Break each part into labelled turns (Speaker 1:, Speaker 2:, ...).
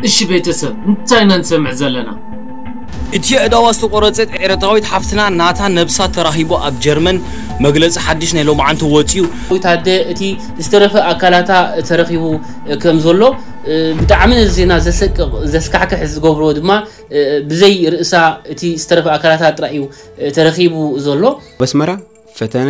Speaker 1: እሺ ቤተሰብ እንታይ ኢና ንሰምዕ ዘለና። እቲ
Speaker 2: ኣእዳዋ ዝተቖረጸት ኤርትራዊት ሓፍትና ናታ ነብሳ ተራኺቡ ኣብ ጀርመን መግለጺ ሓድሽ ናይ ሎምዓንቲ ወጺኡ። ዊት ኣደ እቲ
Speaker 3: ዝተረፈ ኣካላታ ተረኺቡ ከም ዘሎ ብጣዕሚ ነዚ ዜና ዘሰቅቕ ዘስካሕክሕ ዝገብሮ ድማ ብዘይ ርእሳ እቲ ዝተረፈ ኣካላታ ጥራይ እዩ ተረኺቡ ዘሎ። ኣብ ኣስመራ
Speaker 4: ፈተነ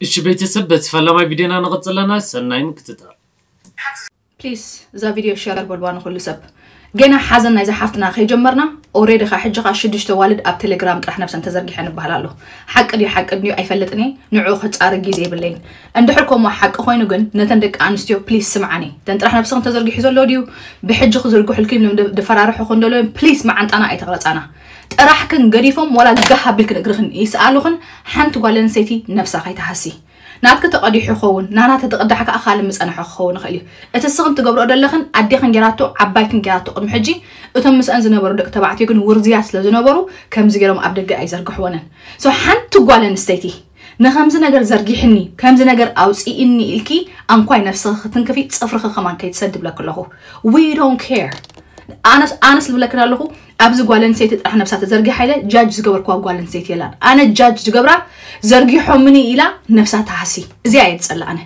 Speaker 1: እሺ ቤተሰብ በቲ ፈላማይ ቪድዮና ንቅፅል ኣለና ሰናይ ምክትታል።
Speaker 5: ፕሊስ እዛ ቪድዮ ሸር በልዋ ንኩሉ ሰብ። ገና ሓዘን ናይዛ ሓፍትና ከይጀመርና ኦሬዲ ከ ሕጂ ከ ሽዱሽተ ኣዋልድ ኣብ ቴሌግራም ጥራሕ ነብሰን ተዘርጊሐን ይበሃል ኣሎ ሓቂ ድዩ ሓቂ ድዩ ኣይፈልጥን እየ ንዕኡ ክጻረ ግዜ የብለይን እንድሕር ከምኡ ሓቂ ኮይኑ ግን ነተን ደቂ ኣንስትዮ ፕሊስ ስምዓኒ ተን ጥራሕ ነብስክን ተዘርጊሑ ዘሎ ድዩ ብሕጂ ክዝርግሑልኪ ድፈራርሑክን ደሎ ፕሊስ መዓንጣና ኣይተቅረጻና ጥራሕክን ገዲፎም ዋላ ጋህ ኣቢልክን እግርኽን ይስኣሉኽን ሓንቲ ጓል ኣንስተይቲ ነብሳ ከይትሃሲ ናትኪ ተቀዲሑ ክኸውን ናና ተትቅዳሕ ከኣ ካልእ ምጸንሖ ክኸውን ይኽእል እዩ እቲ እስኽን ትገብርኦ ደለኽን ኣዴኽን ጌራቶ ዓባይክን ጌራቶ ቅድሚ ሕጂ እቶም ምስኣን ዝነበሩ ደቂ ተባዕትዮ ግን ውርዙያት ስለ ዝነበሩ ከምዚ ጌሮም ኣብ ደገ ኣይዘርግሕወንን so ሓንቲ ጓል ኣንስተይቲ ንከምዚ ነገር ዘርጊሕኒ ከምዚ ነገር ኣውጽኢኒ ኢልኪ ኣንኳይ ነብስኺ ክትንክፊ ጽፍርኺ ከማን ከይትሰዲ ይብለኪ ኣለኹ we don't care ኣነስ ኣነስ ልብለክን ኣለኹ ኣብዚ ጓል ኣንሰይቲ ጥራሕ ነብሳ ተዘርጊሓ ኢለ ጃጅ ዝገበርክዋ ጓል ኣንሰይቲ የላን ኣነ ጃጅ ዝገብራ ዘርጊሖምኒ ኢላ ነብሳ ትሃሲ እዚኣ እየ ዝጸላ ኣነ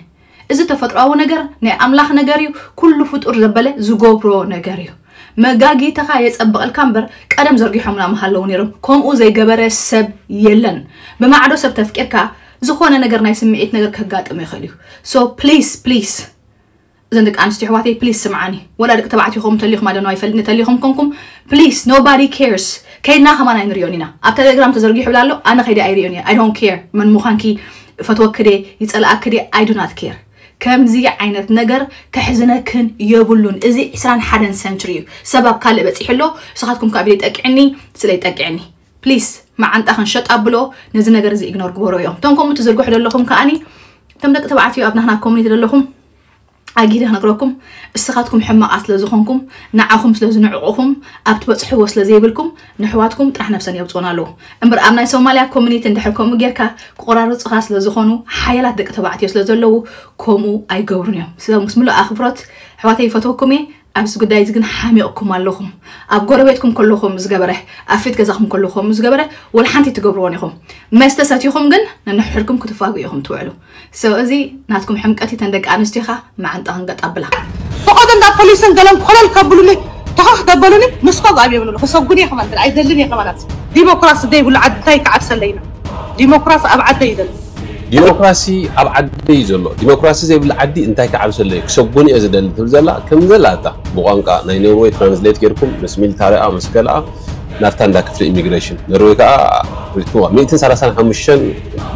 Speaker 5: እዚ ተፈጥሯዊ ነገር ናይ ኣምላኽ ነገር እዩ ኩሉ ፍጡር ዘበለ ዝገብሮ ነገር እዩ መጋጊትኻ የጸብቐልካ እምበር ቀደም ዘርጊሖምና ምሃለዉ ነይሮም ከምኡ ዘይገበረ ሰብ የለን ብማዕዶ ሰብ ተፍቂርካ ዝኾነ ነገር ናይ ስምዒት ነገር ከጋጥም ይኽእል እዩ ሶ ፕሊስ ፕሊስ እዘን ደቂ ኣንስትዮ ኣሕዋተይ ፕሊስ ስምዓኒ ወላ ደቂ ተባዕትዮ ኹም ተሊኹም ኣዶኖ ኣይፈልጥ ንተሊኹም ኮንኩም ፕሊስ ኖባዲ ኬርስ ከይድና ከማን ኣይንሪኦን ኢና ኣብ ተሌግራም ተዘርጊሑ ብላ ኣሎ ኣነ ከይደ ኣይሪኦን እየ ኣይ ዶንት ኬር መን ምዃንኪ ፈትወኪ ደ ይፀላኣኪ ደ ኣይ ዱ ናት ኬር ከምዚ ዓይነት ነገር ከሕዝነክን የብሉን እዚ ዕስራን ሓደን ሰንችሪ እዩ ሰብ ኣብ ካልእ በፂሑ ኣሎ ንስኻትኩም ከዓ ብደይ ጠቅዕኒ ስለይ ጠቅዕኒ ፕሊስ መዓንጣ ክንሸጥ ኣብሎ ነዚ ነገር እዚ ኢግኖር ግበሮ እዮም እቶም ከምኡ ትዝርግሑ ዘለኹም ከዓኒ እቶም ደቂ ተባዕትዮ ኣብ ናህና ኮሚኒቲ ዘለኹም ኣጊደ ክነግረኩም እስኻትኩም ሕማቓት ስለ ዝኾንኩም ንዓኹም ስለ ዝንዕቑኹም ኣብ ትበፅሕዎ ስለ ዘይብልኩም ንሕዋትኩም ጥራሕ ነብሰን የውፅኡን ኣለዉ እምበር ኣብ ናይ ሶማልያ ኮሚኒቲ እንድሕር ከምኡ ጌርካ ክቆራርፅኻ ስለ ዝኾኑ ሓያላት ደቂ ተባዕትዮ ስለ ዘለዉ ከምኡ ኣይገብሩን እዮም ምስ ምሉእ ኣኽብሮት ኣሕዋተይ ይፈትወኩም እየ ኣብዚ ጉዳይ እዚ ግን ሓሚቕኩም ኣለኹም። ኣብ ጎረቤትኩም ከሎ ከምኡ ዝገበረ፣ ኣብ ፊት ገዛኹም ከሎ ከምኡ ዝገበረ ወላ ሓንቲ ኣይትገብርዎን ኢኹም። መስተ ሰቲኹም ግን ነንሕድኩም ክትፋግኡ ኢኹም ትውዕሉ። So እዚ ናትኩም ሕምቀት እዩ። እተን ደቂ ኣንስትዮ ከኣ መዓንጠኣን ገጥ ኣብላ። ፈቐዶ እንዳ
Speaker 6: ፖሊስን ገለን ኮለል ከብሉኒ ተኸኽ ደበሉኒ ምስፋግ ኣብየምሉ። ክሰጉን እየ ከማን ኣይደልን እየ ከማናት። ዲሞክራሲ ዘይብሉ ዓዲ እንታይ ክዓብሰለይ ነው። ዲሞክራሲ ኣብ ዓደይ እዩ ደሎ። ዲሞክራሲ
Speaker 7: ኣብ ዓደይ እዩ ዘሎ። ዲሞክራሲ ዘይብላ ዓዲ እንታይ ክዓብሰለይ እዩ ክሰጎን እየ ዝደሊ ትብል ዘላ ከምዘላ እታ ብቋንቃ ናይ ኖርወይ ትራንስሌት ጌርኩም ምስ ሚልታሪኣ ምስ ገልኣ ናብታ እንዳ ክፍሊ ኢሚግሬሽን ኖርወይ ከኣ ሪእክዋ ሚእትን ሰላሳን ሓሙሽተን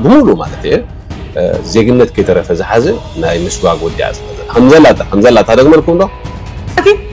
Speaker 7: ብሙሉ ማለት እየ ዜግነት ከይተረፈ ዝሓዘ ናይ ምስጓግ ወዲኣ ዝሓዘ ከምዘላ እታ ከምዘላ እታ ደግመልኩም ዶ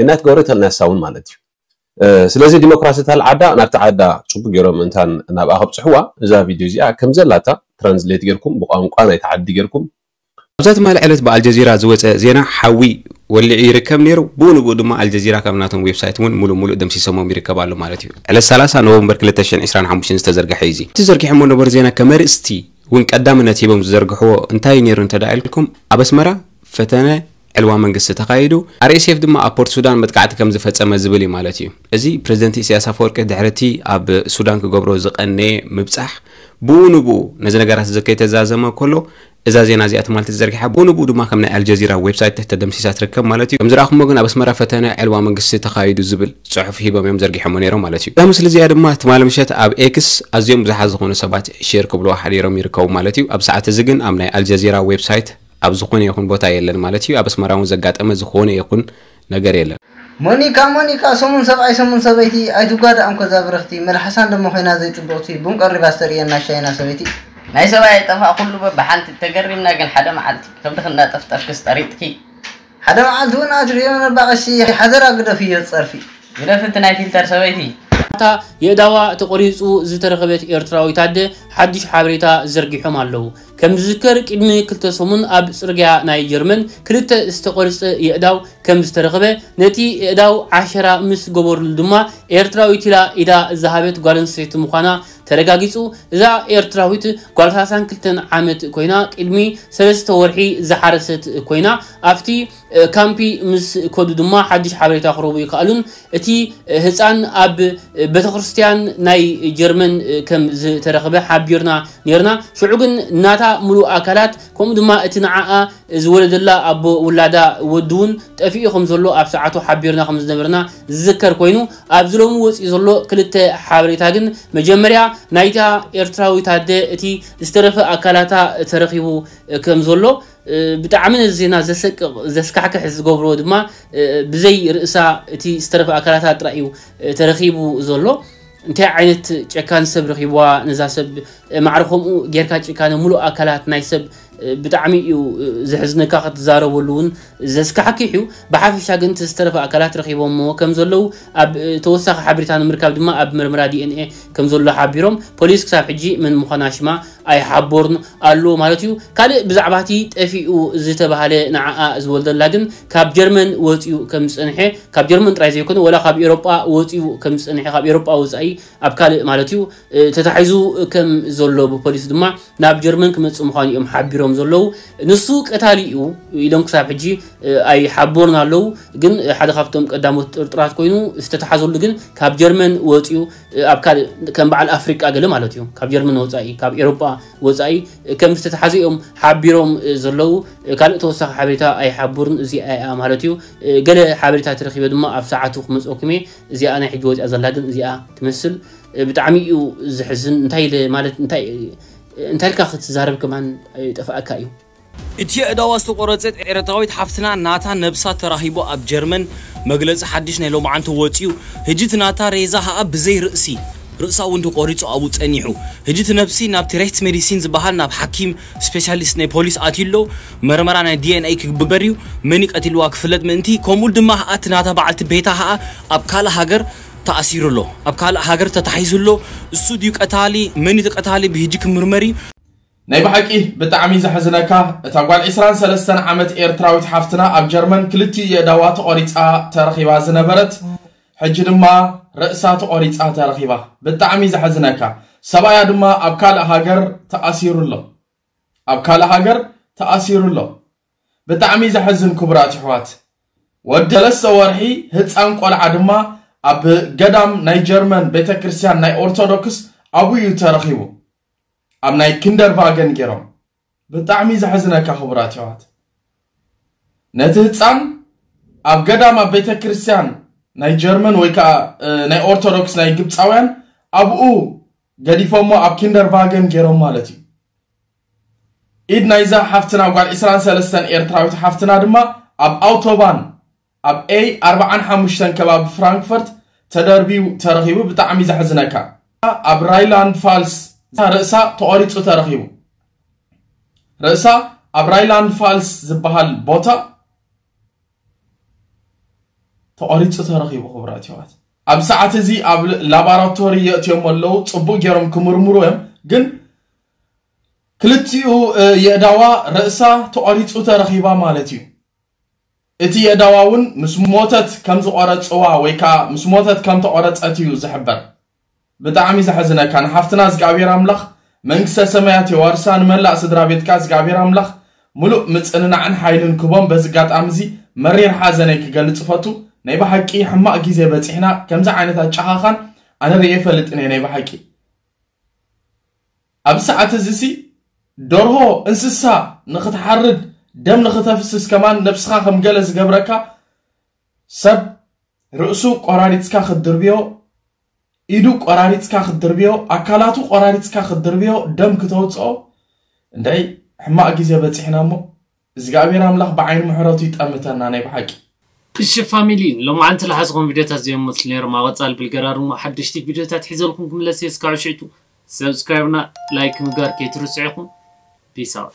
Speaker 7: ገነት ገብሩ ተልነሳ እውን ማለት እዩ ስለዚ ዲሞክራሲ ታል ዓዳ ናብቲ ዓዳ ጽቡቅ ገሮም እንታን ናብኣ ከብጽሕዋ እዛ ቪድዮ እዚኣ ከምዘላታ ትራንስሌት ገርኩም ብቋንቋ ናይቲ ዓዲ ገርኩም ኣብዛ ትማሊ
Speaker 4: ዕለት ብኣልጀዚራ ዝወጸ ዜና ሓዊ ወሊዑ ይርከብ ነይሩ ብኡ ንብኡ ድማ ኣልጀዚራ ካብ ናቶም ዌብሳይት እውን ሙሉእ ሙሉእ ደምሲሰሞም ይርከብ ኣሎ ማለት እዩ ዕለት ሰላሳ ኖቨምበር ክልተ ሽሕን ዕስራን ሓሙሽተን ዝተዘርገሐ እዩ እዚ እቲ ዘርጊሖሞ ነበሩ ዜና ከመርእስቲ እውን ቀዳምነት ሂቦም ዝዘርግሕዎ እንታይ እዩ ነይሩ እንተድኣ ኢልኩም ኣብ ኣስመራ ፈተነ ዕልዋ መንግስቲ ተኻይዱ፣ RSF ድማ ኣብ ፖርት ሱዳን መጥቃዕቲ ከም ዝፈጸመ ዝብል እዩ ማለት እዩ። እዚ ፕረዚደንት ኢሰያስ ኣፈወርቂ ድሕሪ እቲ ኣብ ሱዳን ክገብሮ ዝቐነየ ምብጻሕ ብኡ ንብኡ ነዚ ነገራት እዚ ከይተዛዘመ ከሎ እዛ ዜና እዚኣ ትማልቲ ተዘርጊሓ ብኡ ንብኡ ድማ ከም ናይ ኣልጀዚራ ዌብሳይት ተደምሲሳ ትርከብ ማለት እዩ። ከም ዝረኣኹሞ ግን ኣብ ኣስመራ ፈተነ ዕልዋ መንግስቲ ተኻይዱ ዝብል ጽሑፍ ሂቦም እዮም ዘርጊሖሞ ነይሮም ማለት እዩ። እዛ ምስሊ እዚኣ ድማ ትማሊ ምሸት ኣብ ኤክስ ኣዝዮም ብዙሓት ዝኾኑ ሰባት ሼር ክብልዋ ሓዲሮም ይርከቡ ማለት እዩ። ኣብዚ ሰዓት እዚ ግን ኣብ ናይ ኣልጀዚራ ዌብሳይት ኣብ ዝኾነ ይኹን ቦታ የለን ማለት እዩ። ኣብ ኣስመራ እውን ዘጋጠመ ዝኾነ ይኹን ነገር የለን። ሞኒካ ሞኒካ
Speaker 8: ሰሙን ሰብኣይ ሰሙን ሰበይቲ ኣይትጓዳእም ከዛ ብርኽቲ መልሓሳ እንደሞ ኮይና ዘይጽብቕቲ ቡን ቀሪባ ዝተርእየና ሻይና ሰበይቲ። ናይ ሰብኣይ ኣይጠፋእ
Speaker 9: ኩሉ በብሓንቲ ተገሪምና ግን ሓደ መዓልቲ ከብድኺ እንዳጠፍጠፍክስ ጠሪጥኪ። ሓደ መዓልቲ
Speaker 8: ውን ኣትሪፎም ነባ ቀሺ ሓደራ ግደፍዮ ጸርፊ። ግደፊ
Speaker 9: እቲ ናይ ፊልተር ሰበይቲ። ኣታ
Speaker 3: የእዳዋ ተቆሪጹ ዝተረኽበት ኤርትራዊት ኣደ ሓዱሽ ሓበሬታ ዘርጊሖም ኣለዉ። ከምዝዝከር ቂድሚ ክልተ ሰሙን ኣብ ጽርግያ ናይ ጀርመን ክልተ ዝተቆርጸ የእዳው ከምዝተረኽበ ነቲ የእዳው ዓሸራ ምስ ገበርሉ ድማ ኤርትራዊት ኢላ ኢዳ ዝሃበት ጓለንስተይቲ ምዃና ተረጋጊጹ እዛ ኤርትራዊት ጓል ሰላሳን ክልተን ዓመት ኮይና ቅድሚ ሰለስተ ወርሒ ዝሓረሰት ኮይና ኣብቲ ካምፒ ምስ ከዱ ድማ ሓድሽ ሓበሬታ ክረቡ ይከኣሉን እቲ ህጻን ኣብ ቤተክርስትያን ናይ ጀርመን ከም ዝተረኽበ ሓቢርና ኔርና ሽዑ ግን ናታ ምሉእ ኣካላት ከምኡ ድማ እቲ ንዓኣ ዝወለደላ ኣቦ ውላዳ ወዲ እውን ጠፊኡ ከም ዘሎ ኣብ ሰዓቱ ሓቢርና ከም ዝነበርና ዝዝከር ኮይኑ ኣብዚ ሎሚ ወጺኡ ዘሎ ክልተ ሓበሬታ ግን መጀመርያ ናይታ ኤርትራዊት ኣደ እቲ ዝተረፈ ኣካላታ ተረኺቡ ከም ዘሎ ብጣዕሚ ነዚ ዜና ዘሰቅቕ ዘስካሕክሕ ዝገብሮ ድማ ብዘይ ርእሳ እቲ ዝተረፈ ኣካላታ ጥራይ እዩ ተረኺቡ ዘሎ እንታይ ዓይነት ጨካን ሰብ ረኺብዋ ነዛ ሰብ ማዕረ ከምኡ ጌርካ ጭካነ ሙሉእ ኣካላት ናይ ሰብ ብጣዕሚ እዩ ዘሕዝነካ ክትዛረበሉ እውን ዘስካሕኪሕ እዩ ብሓፊሻ ግን እቲ ዝተረፈ ኣካላት ረኪቦምዎ ከም ዘለዉ ኣብ ተወሳኪ ሓበሬታ ንምርካብ ድማ ኣብ ምርምራ DNA ከም ዘሎ ሓቢሮም ፖሊስ ክሳብ ሕጂ መን ምኳና ሽማ ኣይሓቦርኑ ኣሎ ማለት እዩ ካልእ ብዛዕባ እቲ ጠፊኡ ዝተባሃለ ንዓኣ ዝወልደላ ግን ካብ ጀርመን ወጽዩ ከም ዝጸንሐ ካብ ጀርመን ጥራይ ዘይኮነ ወላ ካብ ኤሮጳ ወጽዩ ከም ዝጸንሐ ካብ ኤሮጳ ወጻኢ ኣብ ካልእ ማለት'ዩ ተታሒዙ ከም ዘሎ ብፖሊስ ድማ ናብ ጀርመን ክመጽእ ምዃኑ እዮም ሓቢሮም ዘለዉ። ንሱ ቀታሊ'ዩ ኢሎም ክሳብ ሕጂ ኣይሓበሩን ኣለዉ። ግን ሓደ ካብቶም ቀዳሞት ጥርጡራት ኮይኑ ዝተታሕዘሉ ግን ካብ ጀርመን ወጺኡ ኣብ ካልእ ከም በዓል ኣፍሪቃ ገለ ማለት'ዩ ካብ ጀርመን ወጻኢ ካብ ኤሮጳ ወጻኢ ከም ዝተታሕዘ እዮም ሓቢሮም ዘለዉ። ካልእ ተወሳኺ ሓበሬታ ኣይሓበሩን እዚኣ'ያ ማለት'ዩ። ገለ ሓበሬታ ተረኺበ ድማ ኣብ ሰዓቱ ክመጽኦኩም'የ። እዚኣ ናይ ሕጂ ወጺኣ ዘላ ግን እዚኣ ትመስል ብጣዕሚ እዩ ዝሕዝን እንታይ ኢለ ማለት እንታይ እንታይ ኢልካ ክትዛረብ ከማን ይጠፍኣካ እዩ። እቲ
Speaker 2: የእዳዋ ዝተቆረጸት ኤረትራዊት ሓፍትና ናታ ነብሳ ተራኺቡ ኣብ ጀርመን መግለጺ ሓድሽ ናይ ሎምዓንቲ ወጽዩ ህጂ እቲ ናታ ሬዛ ኸኣ ብዘይ ርእሲ ርእሳ ውን ተቆሪጹ ኣብኡ ጸኒሑ ህጂ እቲ ነብሲ ናብቲ ሬህትስሜዲሲን ዝበሃል ናብ ሓኪም ስፔሲያሊስት ናይ ፖሊስ ኣትዩ ኣሎ መርመራ ናይ DNA ክግበር እዩ፣ መን'ዩ ቀቲልዋ ክፍለጥ ምእንቲ፣ ከምኡ ድማ ከኣ እቲ ናታ በዓልቲ ቤታ ከኣ ኣብ ካልእ ሃገር ተኣሲሩ ኣሎ፣ ኣብ ካልእ ሃገር ተታሒዙ ኣሎ፣ እሱ ድዩ ቀታሊ፣ መን'ዩ እቲ ቀታሊ ብህጂ ክምርመር እዩ። ናይ ብሓቂ
Speaker 10: ብጣዕሚ ዘሕዝነካ እታ ጓል ዕስራን ሰለስተን ዓመት ኤርትራዊት ሓፍትና ኣብ ጀርመን ክልቲኡ የእዳዋ ተቆሪጻ ተረኺባ ዝነበረት ሕጂ ድማ ርእሳ ተቆሪጻ ተረኺባ ብጣዕሚ ዘሕዝነካ ሰብኣያ ድማ ኣብ ካልእ ሃገር ተኣሲሩ ኣሎ ኣብ ካልእ ሃገር ተኣሲሩ ኣሎ ብጣዕሚ ዘሕዝን ክቡራት የሕዋት ወዲ ሰለስተ ወርሒ ህጻን ቆልዓ ድማ ኣብ ገዳም ናይ ጀርመን ቤተክርስትያን ናይ ኦርቶዶክስ ኣብኡ እዩ ተረኺቡ ኣብ ናይ ኪንደርቫገን ገይሮም ብጣዕሚ ዘሕዝነካ ክቡራት የሕዋት ነቲ ህጻን ኣብ ገዳም ኣብ ቤተክርስትያን ናይ ጀርመን ወይ ከዓ ናይ ኦርቶዶክስ ናይ ግብፃውያን ኣብኡ ገዲፎሞ ኣብ ኪንደር ቫገን ጌሮም ማለት እዩ። ኢድ ናይዛ ሓፍትና ጓል ዕስራን ሰለስተን ኤርትራዊት ሓፍትና ድማ ኣብ ኣውቶባን ኣብ ኤይ ኣርብዓን ሓሙሽተን ከባቢ ፍራንክፈርት ተደርብዩ ተረኺቡ ብጣዕሚ ዘሕዝነካ ኣብ ራይላንድ ፋልስ ርእሳ ተቖሪጹ ተረኺቡ ርእሳ ኣብ ራይላንድ ፋልስ ዝበሃል ቦታ ተቆሪጹ ተረኺቡ ክቡራት የሕዋት ኣብ ሰዓት እዚ ኣብ ላባራቶሪ የእትዮሞ ኣለዉ ጽቡቅ ገይሮም ክምርምሩ እዮም ግን ክልቲኡ የእዳዋ ርእሳ ተቆሪጹ ተረኺባ ማለት እዩ እቲ የእዳዋ እውን ምስ ሞተት ከም ዝቆረጽዋ ወይ ከዓ ምስ ሞተት ከም ተቆረጸት እዩ ዝሕበር ብጣዕሚ ዘሕዝነካ ንሓፍትና እዝግኣብሄር ኣምላኽ መንግስተ ሰማያት የዋርሳ ንመላእ ስድራቤት ከኣ እዝግኣብሄር ኣምላኽ ምሉእ ምጽንናዕን ሓይልን ክህቦም በዚ ኣጋጣሚ እዚ መሪር ሓዘነይ ክገልጽ እፈቱ ናይ ብሓቂ ሕማቕ ግዜ በጺሕና ከምዚ ዓይነት ኣጨኻኻን ኣነ ርእየ ፈልጥን እየ ናይ ብሓቂ ኣብዚ ሰዓት እዚ ሲ ደርሆ እንስሳ ንኽትሓርድ ደም ንኽተፍስስ ከማን ነብስኻ ከም ገለ ዝገብረካ ሰብ ርእሱ ቆራሪጽካ ክትድርብዮ፣ ኢዱ ቆራሪጽካ ክትድርብዮ፣ ኣካላቱ ቆራሪጽካ ክትድርብዮ፣ ደም ክተውጽኦ፣ እንደይ ሕማቅ ግዜ በጺሕና እሞ እዝግኣብሄር ኣምላኽ ብዓይኒ ምሕረቱ ይጠምተና ናይ ብሓቂ። እሺ
Speaker 1: ፋሚሊ ሎማዓንቲ ልሓዝኹም ቪድዮታት እዚኦም ይመስሉ ነይሮም ኣብ ቐፃሊ ብልገራርሙ ሓደሽቲ ቪድዮታት ሒዘልኩም ክምለስ እየ እስካዕ ሽዕቱ ሰብስክራይብና ላይክ ምግባር ከይትርስዑ ኢኹም ፒስ ኣውት።